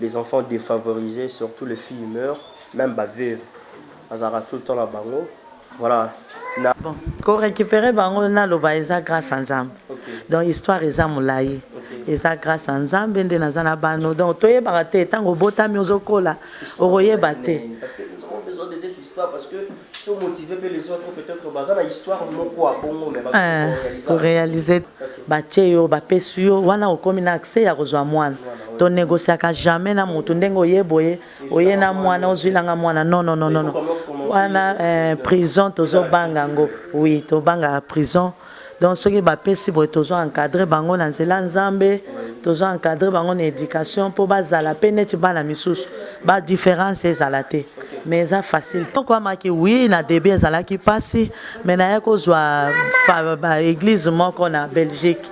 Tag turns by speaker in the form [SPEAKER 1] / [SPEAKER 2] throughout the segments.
[SPEAKER 1] les enfants defavorise surtout les filles meur meme ba veuve azalaka tout le temps na bango voila na Bon
[SPEAKER 2] ko recuperer bango naloba eza grace ya nzambe donc histoire eza mulayi eza grace ya nzambe nde naza na bano donc toyebaka te tango obotami ozo kola okoyeba te.
[SPEAKER 1] Ko
[SPEAKER 2] realiser batie yo bapesi yo wana okomi na accès ya kozua mwana to negociaka jamais na mutu ndenge oye boye oye na mwana ozuila nga mwana non non non wana prison tozo banga yango oui tobangaka prison. Donc soki ba pesi boye tozo encadre bango na nzela ya nzambe tozo encadre bango na education po ba zala pe neti bana misusu ba difference ezala te mais eza facile to kwamaki oui na debut ezalaki pasi mais na yaki ko zua ba eglise moko na Belgique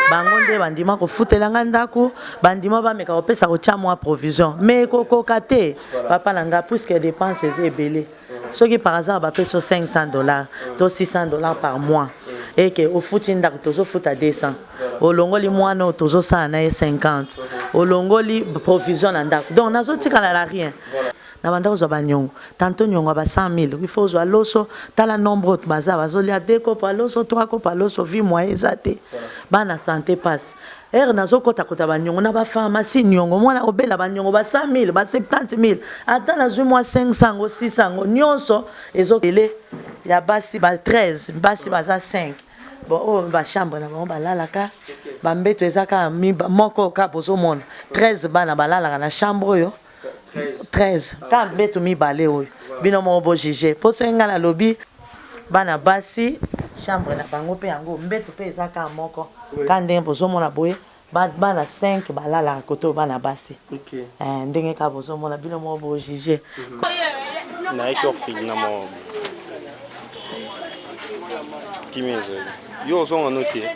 [SPEAKER 2] bango nde ba ndima ko futela nga ndaku ba ndima ba meka ko pesa ko tia mua provision mais eko koka te papa na nga puisque depense eza ebele soki par hasard bapesi yo 500 dollars to 600 dollars par mois et que ofuti ndako tozofuta 200 olongoli mwana oyo tozosala na ye 50 olongoli provision na ndako donc nazotikala na rien na banda kozwa banyongo tanto nyongo ya ba 100 000 il faut ozwa loso tala nombre oyo baza bazolia de kopo ya loso 3 kopo ya loso vi moye eza te bana sante pasi Heure nazo kota kota ba niongo na ba pharmacie niongo muana obela ba niongo ba 100000 ba 70000 ata nazui mua 500 yango 600 yango nionso ezo kele ya basi ba 13 basi baza 5 bon oyo oh, ba chambre na bango balalaka ba mbeto eza kaka moko kaka bozomona 13 bana balalaka na chambre oyo 13 kaka mbetu mibale oyo bino moko bo juger po soki ngai nalobi bana basi chambre na bango mpe yango mbetu mpe eza kaka moko kaka ndenge bozomona boye bana 5 balalaka kote oyo bana basi eh, ndenge kaka bozomona bino moko bo juger mhm.
[SPEAKER 3] nayaki orfili na moko kimia ezali yo ozonga no te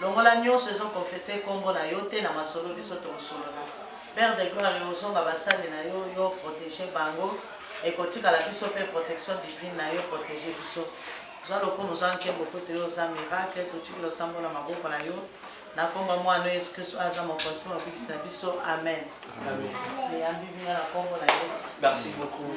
[SPEAKER 2] Longola nionso ezo confesse kombo na yo te na masolo biso toko solola. Père de gloire ozonga basali na yo yo protege bango ekotikala biso pe protection divine na yo protege biso. Zwa lokumu zwa nkembo po te yo oza miracle totiki losambo na maboko na yo na kombo ya mwana no yesu christu oyo aza mokonzi pe mobikisi na biso amen. Amen. Eyambi
[SPEAKER 1] bino na kombo na yesu.
[SPEAKER 2] Merci beaucoup.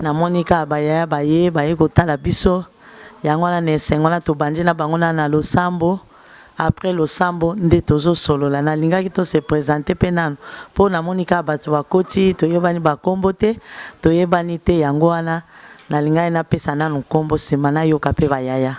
[SPEAKER 2] Na moni kaka ba yaya baye baye kotala biso yango wana na esengo wana tobandi na bango na na losambo après losambo nde tozo solola na lingaki to se presenter pe nanu po na moni kaka batu ba koti to yebani ba kombo te to yebani te yango wana na lingaki na pesa nanu kombo sima na yoka pe ba yaya.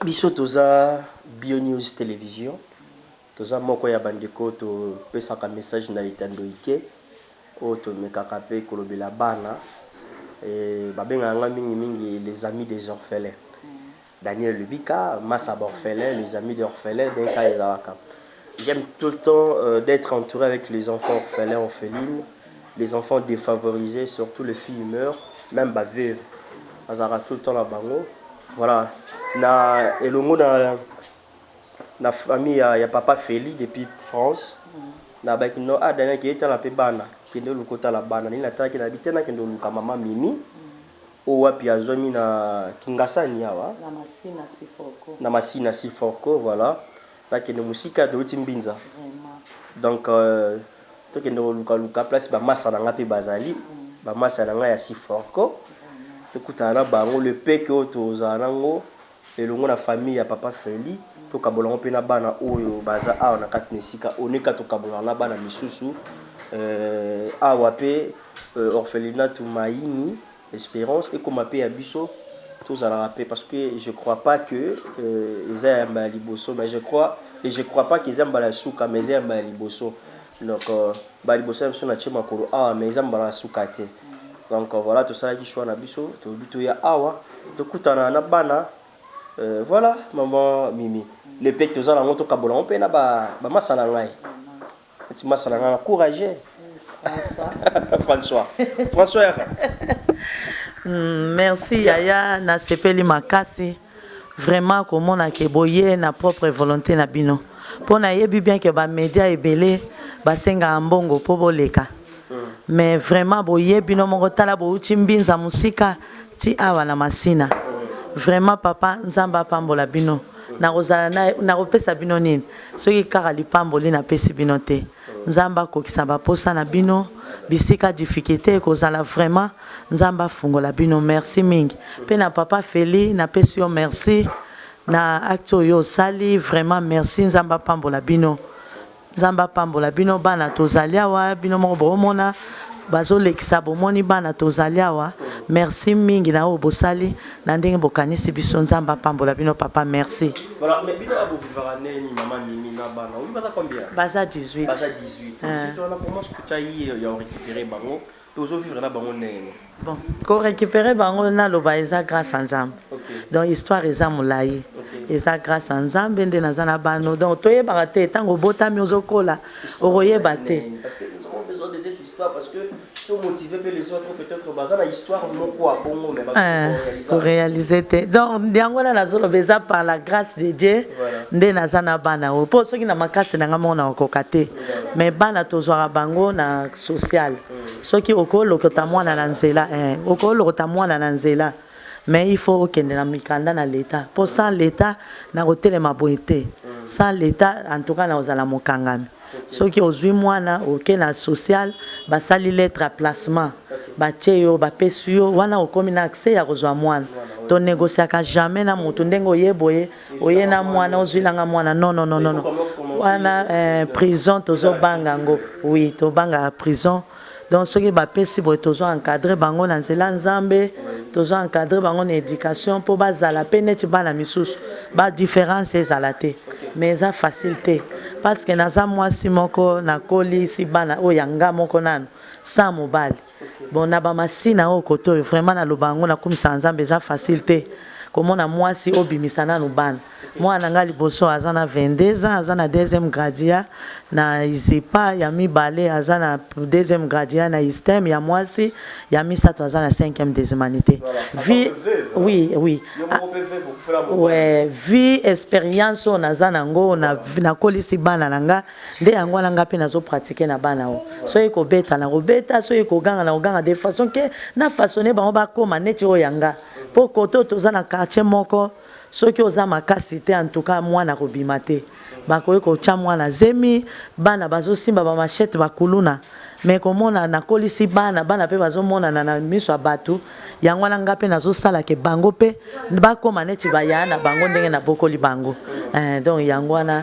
[SPEAKER 1] Biso toza bio news television toza moko ya ba ndeko to pesaka message na etando ike oyo to mekaka pe kolobela bana ba bengaka nga mingi mingi les amis des orphelins Daniel Lubika masa ba orphelins les amis des orphelins nde ka ezalaka J'aime tout le temps d'etre entoure avec les enfants orphelins orphelines, les enfants defavorise surtout les filles meurs meme ba veuves nazalaka tout le temps na bango voilà na elongo na na famille ya, ya papa Feli depuis France na baki no ah Daniel kende tala pe bana kende oluka otala bana nini natalaki na bite nakende oluka mama Mimi oyo wapi azwami na Kingasani awa na Masina Siforco, na Masina Siforco voilà Bakende musika towuti mbinza donc tokende koluka luka place ba masta na nga pe bazali ba masta na nga ya siforco tokutana na bango le peu que oyo tozala na ngo elongo na famille ya papa felly tokabola ngo pe na bana oyo baza awa na kati na esika oneka tokabola na bana misusu awa pe orphelinat mayini Esperance ekoma pe ya biso tozalaka pe parce que je crois pas que eza ya mbala liboso mais je crois et je crois pas que eza mbala ya suka mais eza ya mbala liboso donc mbala liboso na biso na tie makolo awa mais eza mbala ya suka te donc voilà tosalaki choix na biso tolobi toya awa tokutana na bana voilà maman Mimi le pete toza na yango tokabola yango pe na ba masa na ngai Neti masa na nga na courage. François. François yaka.
[SPEAKER 2] Merci yaya na sepeli makasi vraiment komona ke boye na propre volonte na bino po na yebi bien ke ba media ebele ba sengaka mbongo po boleka mais vraiment boye bino moko tala bowuti mbinza musika ti awa na masina vraiment papa nzambe apambola bino nakozala naye nakopesa bino nini soki kaka lipamboli napesi bino te nzambe akokisa ba posa na bino bisika difficulte ekozala vraiment nzambe afungola bino merci mingi pe na papa felly napesi yo merci na acte oyo osali vraiment merci nzambe apambola bino Nzambe apambola bino bana tozali awa bino moko bomona bazolekisa bomoni bana tozali awa merci mingi na oyo bosali na ndenge bokanisi biso nzambe apambola bino papa merci
[SPEAKER 1] baza 18 Tozo vivre na bango ndenge nini? Bon ko
[SPEAKER 2] recuperer bango naloba eza grace ya nzambe donc histoire eza mulayi eza grace ya nzambe nde naza na bano donc toyebaka te tango obotami ozo kola okoyeba te.
[SPEAKER 1] Eeh ko realiser
[SPEAKER 2] te donc yango wana nazo loba eza par la grace de Dieu nde naza na bana oyo po soki na makasi na ngai moko nakokoka te. mais bana tozwaka bango na social soki oko lokota mwana na nzela eh oko lokota mwana na nzela mais il faut okende na mikanda na leta po sans leta na kotelema boye te sans leta en tout cas na kozala mokangami soki ozwi mwana oke na social basali lettre ya placement batie yo bapesi yo wana okomi na accès ya kozwa mwana to negociaka jamais na mutu ndenge oye boye oye na muana ozuila nga muana non non non non wana eh, prison tozo banga ngo oui tobanga prison donc soki bapesi boye tozo encadre bango na nzela nzambe tozo encadre bango na éducation mpo bazala mpe neti bana misusu ba différence ezala te mais eza facile te parce que naza mwasi moko nakolisi bana oyo ya nga moko nanu sans mobali Bon na ba masina oyo kote oyo vraiment na loba yango na kumisaka nzambe eza facile te ko mona muasi o bimisa nanu bana muana na nga liboso aza na 22 ans aza na deuxième gradia na ISEPA ya mibale aza na deuxième gradia na ISTEM ya muasi ya misatu aza na cinquième des humanites vie oui oui ouais vie experience oyo naza na ngo na kolisi bana na nga Nde yango wana nga pe nazo pratique na bana oyo. Soki ko beta nako beta, soki ko ganga nako ganga de façon que na façonner bango ba koma neti oyo ya nga. Po cote oyo toza na quartier moko soki oza makasi te en tout cas mwana ako bima te. Ba koki ko tia mwana zemi, bana bazo simba ba machettes, ba kuluna. Mais ko mona na kolisi bana, bana pe bazo monana na misu ya batu. Yango wana nga pe nazo sala que bango pe ba koma neti ba yaya na bango ndenge na bokoli bango. Eeh donc yango wana.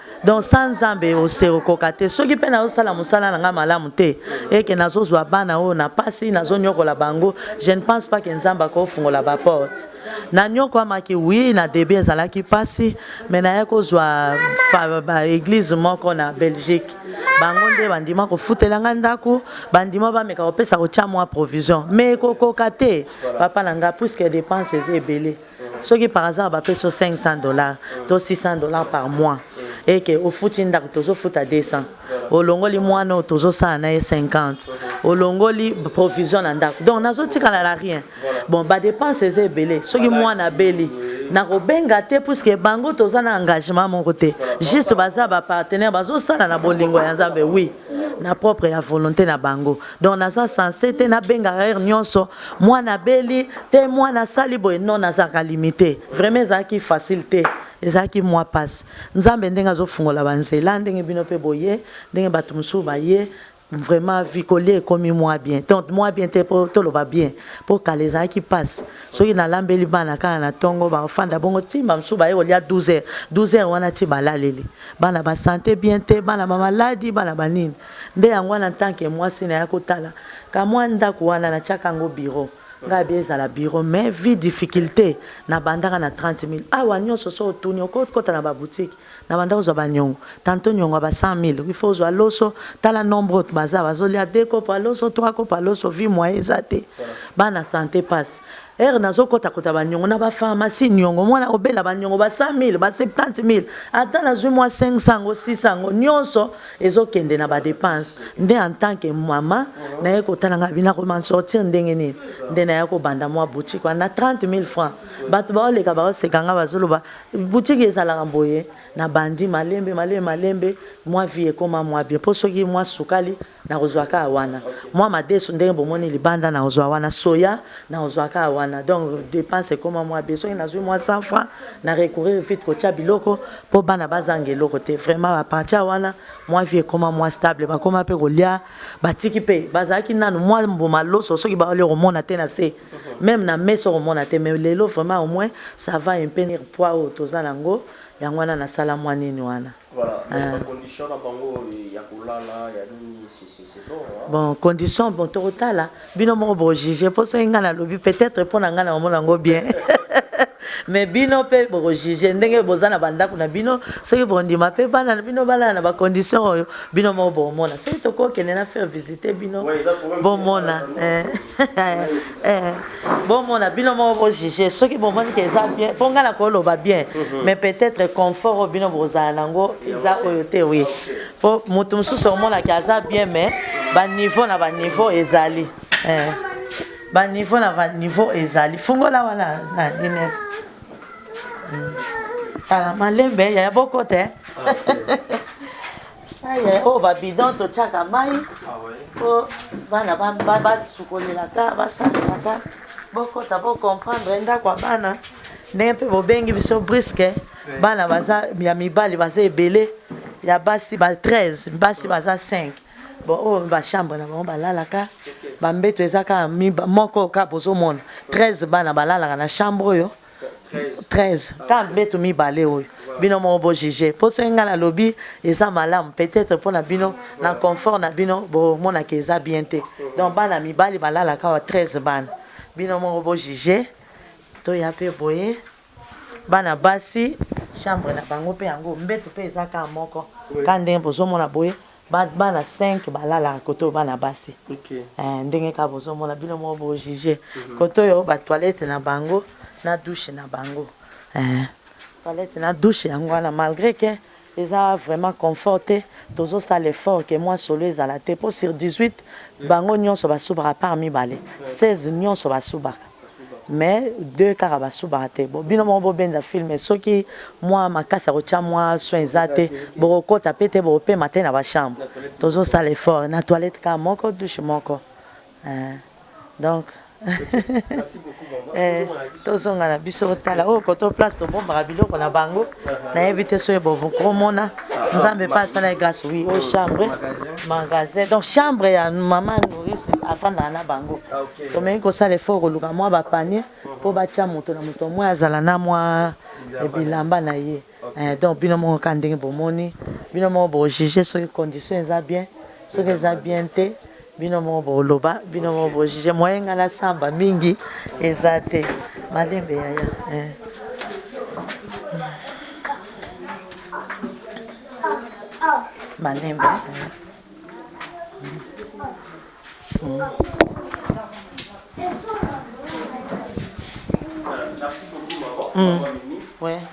[SPEAKER 2] Donc sans Nzambe okoka te. Soki pe nazo sala musala na nga malamu te et que nazo zwa bana oyo na pasi, nazo nyokola bango, je ne pense pas que Nzambe ako fungola ba portes. Na nyokwamaki oui, na debut ezalaki pasi, mais naye ko zwa ba eglise moko na Belgique. Bango nde ba ndima ko futela nga ndaku, ba ndima ba meka ko pesa ko tia mua provision. Mais eko koka te papa na nga puisque depenses eza ebele. soki par hasard bapesi yo 500 dollars to 600 dollars par mois et que ofuti ndako tozofuta 200 olongoli mwana oyo tozosala na ye 50 olongoli provision na ndako donc nazotikala na rien bon badepense eza ebele soki mwana abeli nakobenga te puiske bango toza na engagement moko te juste baza bapartenaire bazosala na bolingo ya nzambe wi na propre ya volonté na bango donc naza sense te nabengaka heure nyonso mwana abeli te mwana asali boye non nazalaka limite vraiment ezalaki facile te ezalaki mwa mpasi nzambe ndenge azofungola banzela ndenge bino mpe boye ndenge bato mosusu baye vraiment vie kolia ekomi mwa bien donc mwa bien te mpo toloba bien mpo kala ezalaki mpasi soki nalambeli bana kaka na ntongo bafanda bongo ti bamosusu baye kolia 12 heures 12 heures wana ti balaleli bana basante bien te bana bamaladi bana banini Nde yango wana en tant que mwasi naya kotala ka mwa ndaku wana na tiaka yango bureau nga bien ezala bureau mais vue difficulte na bandaka na 30 milles awa nionso soki otuni oko kota na ba boutique na banda kozwa ba niongo tantot niongo ya ba 100 milles il faut ozwa loso tala nombre autre baza bazo lia deux copo ya loso trois copo ya loso vue moyen eza te bana sante pasi heure nazo kota kota ba niongo na ba pharmacie niongo mwana obela ba niongo ba 100 milles ba 70 milles ata nazwi mwa 500 yango 600 yango nionso ezo kende na ba depenses nde en tant que maman naye kotala nga bina ko m'en sortir ndenge nini nde naye ko banda mwa boutique wana na 30000 francs bato bao leka bao seka nga bazo loba boutique ezalaka boye na bandi malembe malembe malembe mwa vie ekoma mwa bien po soki mwa sukali nako zwa kaka wana mwa madesu ndenge bomoni libanda nako zwa wana soya nako zwa kaka wana donc depenses ekoma mwa bien soki nazwi mwa 100 francs na recourir vite kotia biloko po bana bazanga eloko te vraiment à partir wana mwa vie ekoma mwa stable bakoma pe kolia batiki pe bazalaki nanu mwa mbuma loso soki baolia okomona te na se meme na mesa okomona te mais lelo vraiment au moins ça va un peu poids oyo toza na yango yango wana nasala mwa nini wana Voilà, mais ba
[SPEAKER 1] conditions na bango ya kolala ya nini Bon condition
[SPEAKER 2] bon tokotala bino moko boko juger po soki nga nalobi peut-etre pona nga na omona ngo bien mais bino pe boko juger ndenge boza na bandako na bino soki bondima pe bana na bino balala na ba condition oyo bino moko bokomona soki tokokende na faire visiter bino bomona eh. Eh, bomona bino moko bojuge soki bomoni ke eza bien mpo ngai nakoloba bien mhm. mais peut-être confort oyo bino bokozala nango eza oyo te wi mpo moto mosusu omonaki aza bien mais baniveau na baniveau ezali eh. baniveau na baniveau ezali fungola wana na ines hmm. tala malembe yaya boko te ah, Aïe, oh, ba bidon to tchaka mai. Ah ouais. Oh, bana ba ba ba sukolela ka, ba salela ka. Boko ta bo comprendre nda kwa bana. Ndenge pe bo bengi biso brisque. Bana baza ya mibali baza ebele. Ya basi ba 13, basi baza 5. Bon, oh, ba chambre na bango balalaka. Ba mbeto eza ka moko ka bozo mona. 13 bana balalaka na chambre oyo. 13 kaka mbetu mibale oyo bino moko bo juger po soki ngai nalobi eza malamu peut-etre po na bino na confort na bino bomonaka eza bien te donc bana mibali balalaka awa 13 bana bino moko bo juger toya pe boye bana basi chambre na bango pe yango mbetu pe eza kaka moko kaka ndenge bozomona boye Ba bana cinq ba lalaka kote oyo bana basi eeh ndenge kaka bozo mona bino moko bo juge kote oyo ba toilette na bango na douche na bango eeh toilette na douche yango wana malgre que eza vraiment confort te tozo sala effort que mua solo ezala te po sur 18 bango nionso ba subaka part mibale 16 nionso ba subaka. mais deux kaka ba subaka te bon bino moko bo benda film soki mua makasi ya kotia mua soin eza te boko kota pe te boko pema te na ba chambre tozo sala effort na toilette kaka moko douche moko eh, donc eh tozonga na biso tala oyo koto place tobombaka biloko na bango nayebi te soki bokomona nzambe mpe asala eglise wi o chambre magasin donc chambre ya mama nourisi afandaka na bango tomeki kosala efo koluka mwa bapanie mpo batya moto na moto omwe azala na mwa bilamba na ye eh, donc bino moko ka ndenge bomoni bino moko bojuge soki condition eza bien soki eza bien te Bino moko bo loba bino moko bo juge moyen nga na samba mingi eza te malembe yaya eh. malembe eh.
[SPEAKER 1] Mm. Mm. Ouais.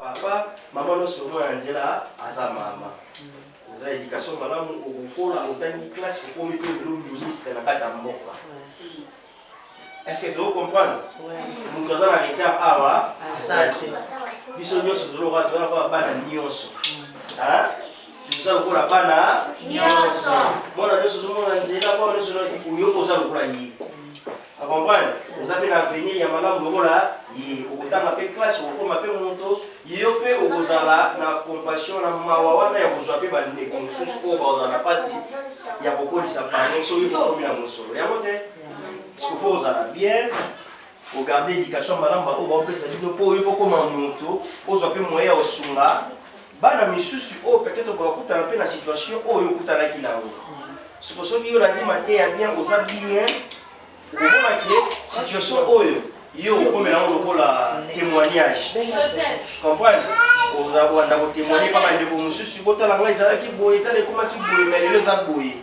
[SPEAKER 1] Papa maman nionso mwana na nzela aza mama oza education malamu okokola otangi classe okomi pe lelo ministre na kati ya mboka est ce que tozo comprendre moto aza na retard awa aza te biso nionso tozolokola toza lokola bana nionso toza lokola bana nionso mwana nionso ozomona nzela mwana nionso oyoka oza lokola ye O comprendre? Oza pe na avenir ya malamu lokola ye. Okotanga pe classe, okokoma pe moto. Yo pe okozala na compassion, na mawa wana ya kozua pe ba ndeko mosusu oyo bakozala na pasi ya kokolisa bango soki bokomi na mosolo. Yango te? Parce que faut ozala bien, o garder education ya malamu ba oyo baopesa bino po yo pe okoma moto, ozua pe moyen ya kosunga Bana misusu oyo peut-etre bakokutana pe na situation oyo okutanaki na yango. Siko soki yo olandi mateya bien, oza bien, okomona que situation oyo yo okomela yango lokola temoignage. Comprendre? Oza kobanda ko temoigner pa ba ndeko mususu, botala ngai ezalaki boye, tala ekomaki boye, mais lelo eza boye.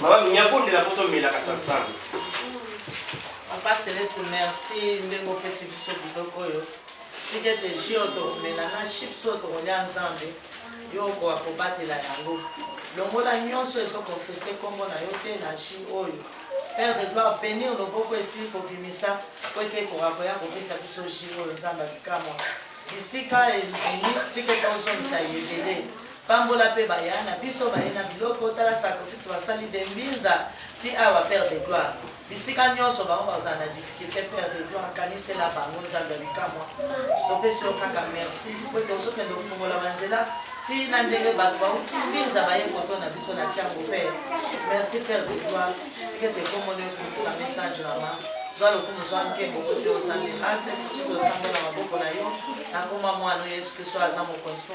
[SPEAKER 1] Mama Minya bondela poto mela kasansango.
[SPEAKER 2] Papa Celeste merci ndenge opesi biso biloko oyo tika ete jus oyo tokomela na chips oyo tokolya nzambe yo okoka kobatela yango longola nyonso ezokonfese nkombo na yo te na jus oyo père de gloire benir loboko esili kobimisa po ete ekoka koya kopesa biso jus oyo nzambe abikamwa bisika ebimi tika ete ozongisa yebele Pambola pe baya na biso baye na biloko tala sacrifice basali de mbinza ti awa père de gloire bisika nionso bango bakozala na difficulte père de gloire kanisela bango nzambe ya bikamua topesi yo kaka merci po ete ozokende ofungola ba nzela ti na ndenge bato bauti mbinza baye koto na biso na tiango père merci père de gloire tika ete kombo na yo komisa message mama zwa lokumu zwa nkembo kote ozambe ate tiki osamba na maboko na yo nakoma mwana yesu kristo aza mokonzi po